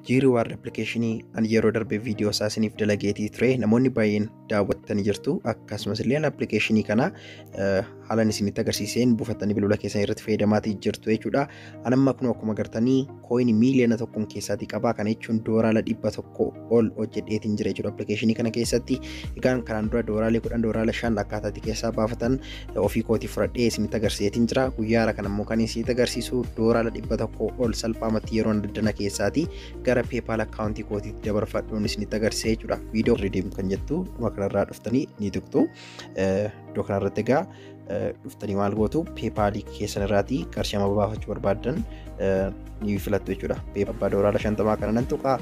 G Reward application an yeroo darbe viidiyoo isaa isiniif dalageetii ture namoonni baay'een daawwattanii jirtu akkasumas illee application kana haalan isinitti agarsiiseen buufattanii bilbila keessan irratti fayyadamaatii jirtu jechuudha. An amma kun akkuma agartanii kooyini miiliyoona tokkoon keessaatii qabaa kana jechuun doolaara dhibba tokko ol hojjedheetiin jira jechuudha application kana keessatti. Egaan kanaan dura doolaara kudhan doolaara shan akkaataatti keessaa baafatan ofii kootii fudhadhee isinitti agarsiiseetiin jira guyyaa hara kan ammoo kan isinitti agarsiisu doolaara dhibba tokko ol salphaamatti yeroo daddana keessaati gara peepaal akkaawuntii kootiitti dabarfadhuun isinitti agarsiisee jechuudha viidiyoo ridiim kan jettu dhuma kanarraa dhuftanii ni tuqxu iddoo kanarratti egaa dhuftanii maal gootu peepaalii keessan irraatii qarshii amma baafachuu barbaaddan ni filattu jechuudha. Pee abbaa doolaara shantamaa kana nan tuqaa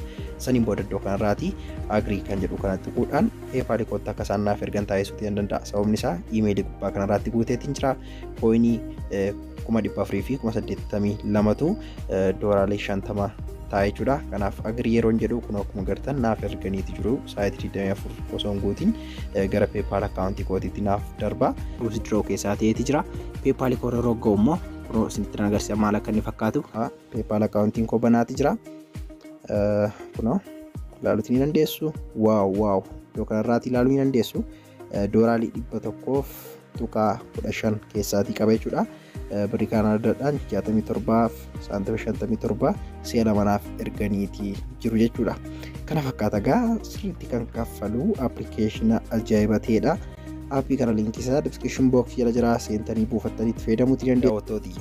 saniin booda iddoo kanarraati agrii kan jedhu kana tuquudhaan peepaali kootti akka isaan naaf ergan taasisuuti nan danda'a. Sababni isaa iimeelii gubbaa kanarraatti guuteetiin jira. Kooyinii kuma dhibba afurii fi kuma saddeettamii lamatu doolaarii shantama ta'a jechuudha. Kanaaf agrii yeroon jedhu kun akkuma gartan naaf erganiiti jiru. Saayitii digdamii afur osoo hin guutiin gara peepaal akkaawuntii kootiitti naaf darba. Withdraw keessaa ta'eeti jira. Peepaali koorra rogga'u immoo kunoo isinitti nan agarsiisa maal akka inni fakkaatu peepaal akkaawuntiin koo banaati jira kunoo ilaaluuti ni dandeessu waaw waaw iddoo kanarraati ilaaluu ni dandeessu dooraalii dhibba tokkoof tuqaa kudha shan keessaatii qaba jechuudha birrii kaanaadaadhaan jaatamii torbaaf saantima shantamii torba si'a lamanaaf erganiitii jiru jechuudha kana fakkaata gaa sirriitti kan kaffalu appilikeeshina ajaa'iba ta'edha. Aappii kana liinkii isaa description box jala jira seentanii buufattanii itti fayyadamuutti dandeessu.